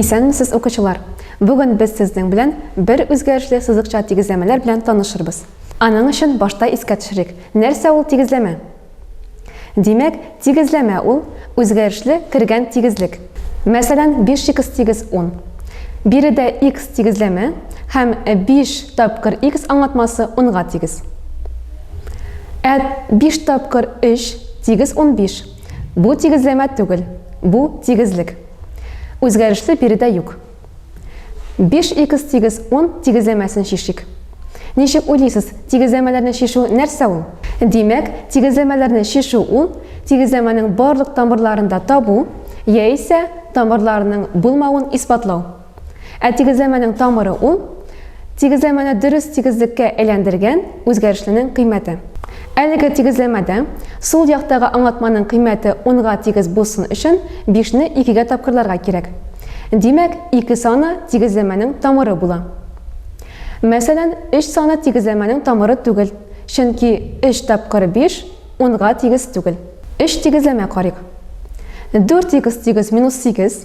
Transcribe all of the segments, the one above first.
Исәнмесез укучылар! Бүген без сезнең белән бер үзгәрешле сызыкча тигезләмәләр белән танышырбыз. Аның өчен башта искә төшерик, нәрсә ул тигезләмә? Димәк, тигезләмә ул, үзгәрешле кергән тигезлек. Мәсәлән, 5х тигез 10. Биредә икс тигезләмә һәм 5 тапкыр икс аңлатмасы унга тигез. Ә 5 тапкыр 3 тигез 15. Бу тигезләмә түгел, бу тигезлек. Үзгәрешле биредә юк. 5х тигез 10 тигезләмәсен чишик. Ничек уйлыйсыз, тигезләмәләрне чишү нәрсә ул? Димәк, тигезләмәләрне чишү ул, тигезләмәнең барлык тамырларын да табу, яисә тамырларының булмавын исбатлау. Ә тигезләмәнең тамыры ул, тигезләмәне дөрес тигезлеккә әйләндергән үзгәрешленең кыйммәте. Әлеге тигезләмәдә сул яктагы аңлатманың кыйммәте унга тигез булсын өчен бишне икегә тапкырларга кирәк. Димәк, ике саны тигезләмәнең тамыры була. Мәсәлән, өч саны тигезләмәнең тамыры түгел, чөнки өч тапкыр биш унга тигез түгел. Өч тигезләмә карыйк. Дүрт икс тигез минус сигез.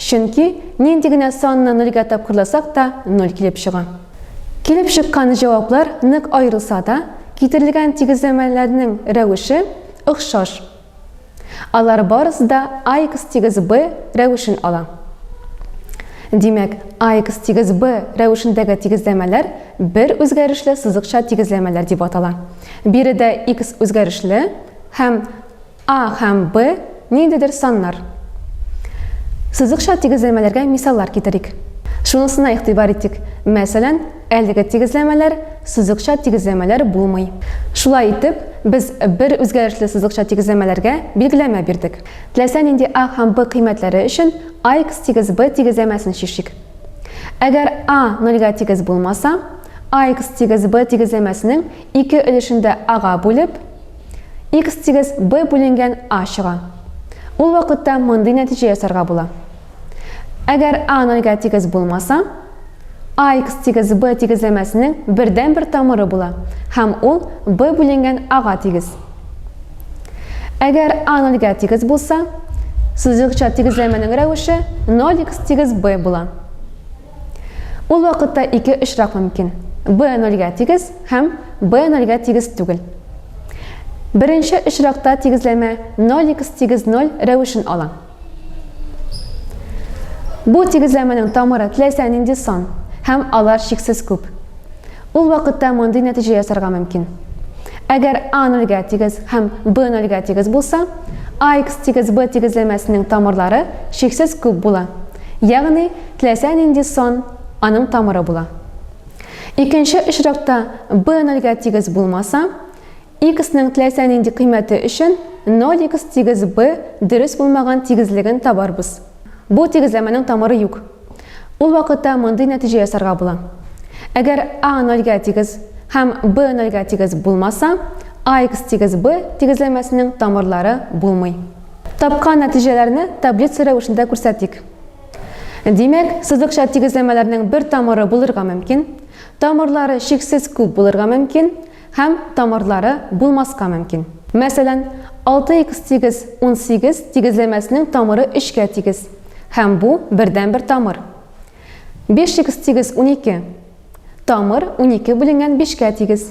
Чөнки нинди генә санны нольгә тапкырласак та, ноль килеп чыга. Килеп чыккан җаваплар нык аерылса да, китерелгән тигезләмәләрнең рәвеше охшаш. Алар барысы да ax тигез b рәвешен ала. Димәк, ax тигез b рәвешендәге тигезләмәләр бер үзгәрешле сызыкча тигезләмәләр дип атала. Биредә x үзгәрешле һәм А һәм Б ниндидер саннар. Сызыкча тигезләмәләргә мисаллар китерик. Шунысына игътибар итик, мәсәлән, әлеге тигезләмәләр сызыкча тигезләмәләр булмый. Шулай итеп, без бер үзгәрешле сызыкча тигезләмәләргә билгеләмә бирдек. Теләсә нинди А һәм Б кыйммәтләре өчен ax тигез b тигезләмәсен чишик. Әгәр a нольгә тигез булмаса, ax тигез b тигезләмәсенең ике өлешендә a-га бүлеп, X тигез B бүленгән A чыга. Ул вакытта мондый нәтиҗә ясарга була. Әгәр A нольгә тигез булмаса, AX тигез B тигезләмәсенең бердән бер тамыры була һәм ул B бүленгән A-га тигез. Әгәр A нольгә тигез булса, сызыкча тигезләмәнең рәвеше 0x тигез B була. Ул вакытта ике очрак мөмкин. B нольгә тигез һәм B нольгә тигез түгел. Беренче очракта тигезләмә 0x тигез 0 рәвешен ала. Бу тигезләмәнең тамыры теләсә нинди сан һәм алар чиксез күп. Ул вакытта мондый нәтиҗә ясарга мөмкин. Әгәр A нольгә тигез һәм B нольгә тигез булса, AX тигез B тигезләмәсенең тамырлары чиксез күп була. Ягъни Теләсә нинди сан аның тамыры була. Икенче очракта b нольгә тигез булмаса, x-ның теләсә нинди кыйммәте өчен 0x тигез b дөрес булмаган тигезлеген табарбыз. Бу тигезләмәнең тамыры юк. Ул вакытта мондый нәтиҗә ясарга була. Әгәр a нольгә тигез һәм b нольгә тигез булмаса, ax тигез b тигезләмәсенең тамырлары булмый. Тапкан нәтиҗәләрне таблица рәвешендә күрсәтик. Димәк, сызыкча тигезләмәләрнең бер тамыры булырга мөмкин, тамырлары чиксез күп булырга мөмкин һәм тамырлары булмаска мөмкин. Мәсәлән, 6х тигез 18 тигезләмәсенең тамыры өчкә тигез, һәм бу бердәнбер тамыр. 5х тигез 12. Тамыр унике бүленгән бишкә тигез.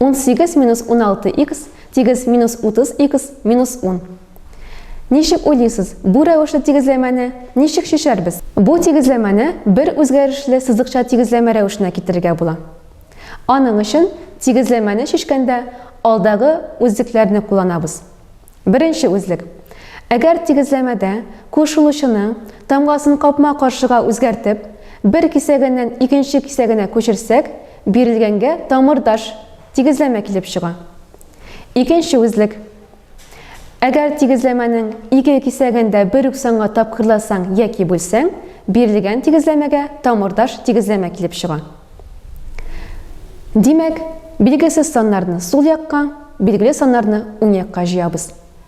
18 минус 16х тигез минус 30х минус 10. Ничек уйлыйсыз, бу рәвешле тигезләмәне ничек чишәрбез? Бу тигезләмәне бер үзгәрешле сызыкча тигезләмә рәвешенә китерергә була. Аның өчен тигезләмәне чишкәндә алдагы үзлекләрне кулланабыз. Беренче үзлек. Әгәр тигезләмәдә кушылучының тамгасын капма-каршыга үзгәртеп, бер кисәгеннән икенче кисәгенә күчерсәк, Бирелгәнгә тамырдаш тигезләмә килеп чыга. Икенче үзлек. Әгәр тигезләмәнең ике кисәген дә бер үк санга тапкырласаң яки бүлсәң, бирелгән тигезләмәгә тамырдаш тигезләмә килеп чыга. Димәк, билгесез саннарны сул якка, билгеле саннарны уң якка җыябыз.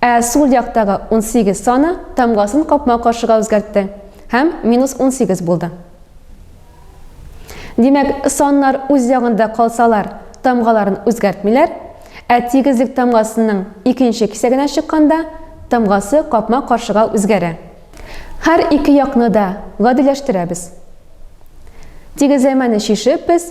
Ә сул яктагы 18 саны тамгасын капма-каршыга үзгәртте һәм минус 18 булды. Димәк, саннар үз ягында калсалар, тамгаларын үзгәртмиләр, ә тигезлек тамгасының икенче кисәгенә чыкканда тамгасы капма-каршыга үзгәрә. Һәр ике якны да гадиләштерәбез. Тигезләмәне чишеп без